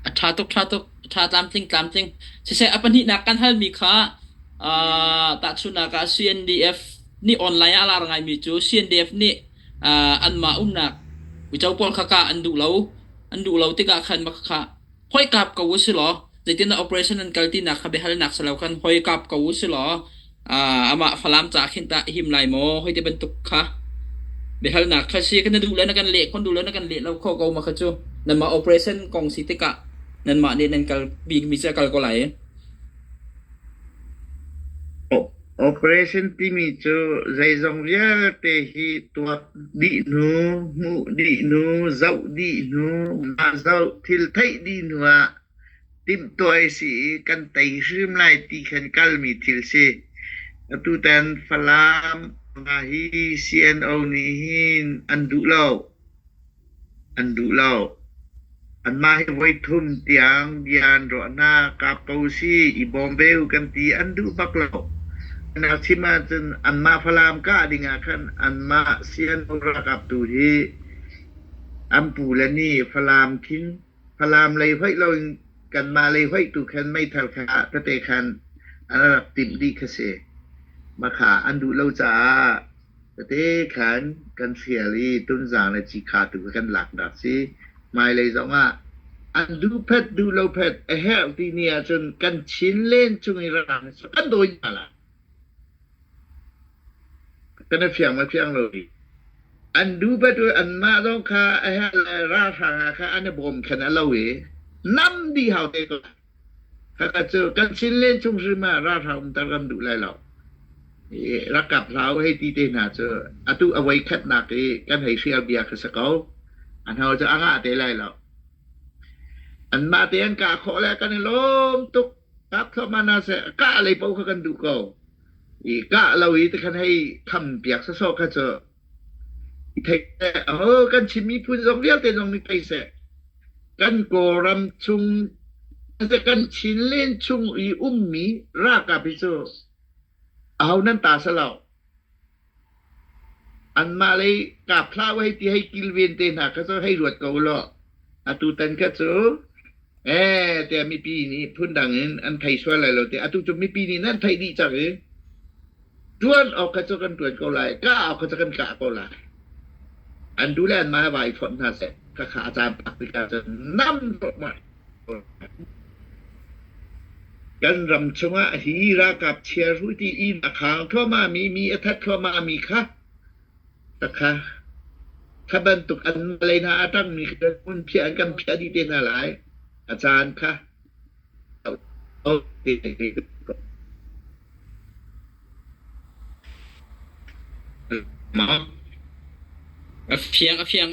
A ṭha tuk, ṭha tuk. A ṭha tlamtling, tlamtling. Siseh, a pahnihnak kan halmi kha uh, tahchunhnak ah CNDF nih online ah a lar ngaimi cu CNDF nih uh, anmah umnak uico pawl kha kah an duh lo. An duh lo tikah khan mah kha hoi kap ko u silaw zeitindah operation an kal tinak kha biahalnak si lo khan hoi kap ko u silaw Amah Falam ca khin tah him lai maw? Hoi ti bantuk kha biahalnak kha si kan duh le na kan leh khon duh le na kan leh lo kho ko ma kha cu nanmah operation kong si tikah nanmah nih nan kal bikmi cu a kal ko lai. Operation timi cu zeizong vialte hi tuak dih nu, hmuh dih nu, zoh dih nu, mah zoh thil theih dih nu ah timhtuah a si i kan tei hrim lai ti khan kalmi thil si. Atutan Falam nga hi CNO nih hin an duh lo. An duh lo. Anmah hi voi thum tiang bia an ruah hna. Kap ko si, i bawm ve u kan ti. An duh bak lo. An chim ahcun anmah Falam kah ding ah khan anmah CNO ralkap tu hi an pu le nih Falam khin Falam lei hoih loin kanmah lei hoih tu khan meithal kha tete khan an rak timh dih kha si. Maka an duh lo caah tete khan kan hrial i tunzang le cikha tu kha kan laknak si. Hmailei zongah an duh phet duh lo phet a herh ti ni ahcun kan chin len chung i rang kan dawi hna la. kan i fiang ma fiang lo rih. An duhbat u anmah zong kha a herh le ralhrang hna kha an i bawmkhen a lo i nam di hau te ko. Kaka cu kan sin len chung hri ma ralhrang umter kan duh lai lo. I rakap hlau hei ti te hna cu atu awai khatnak i kan hei hrial bia kha sa ko. An hau cu a ngah te lai lo. An mah te an kah khawh le kan i lawm tuk kap thluahmah hna seh, kah lei paoh kha kan duh ko. I kah lo i ti khan hei tham piak sasawh kha cu i thei seh. Oh, kan chim miphun zong vialte zong nih thei seh. Kan kawlram chung kan Chin len chung i ummi ralkap hi cu aho nan ta sa lo. Anmah lei kaa phlah u hei ti hei kilven te hna kha cu hei ruat ko ulaw atutan kha cu ee tiah mipi nih phundang in an thei sual lai lo tiah atu cu mipi nih nan theih dih cang i ṭuan awk kha cu kan ṭuan ko lai kah awk kha cu kan kah ko lai an tu le anmah vai fonh hna seh khakha a caam tak tikah cun nam ruangmah Kan ram chungah hi ralkap chiarhuh ṭih i a khang thluahmahmi mi, a that thluahmahmi kha takha kha bantuk an malei hna a ṭangmi kan hmun phiah in kan phiah dih te hna lai. A caan kha a fiang a fiang.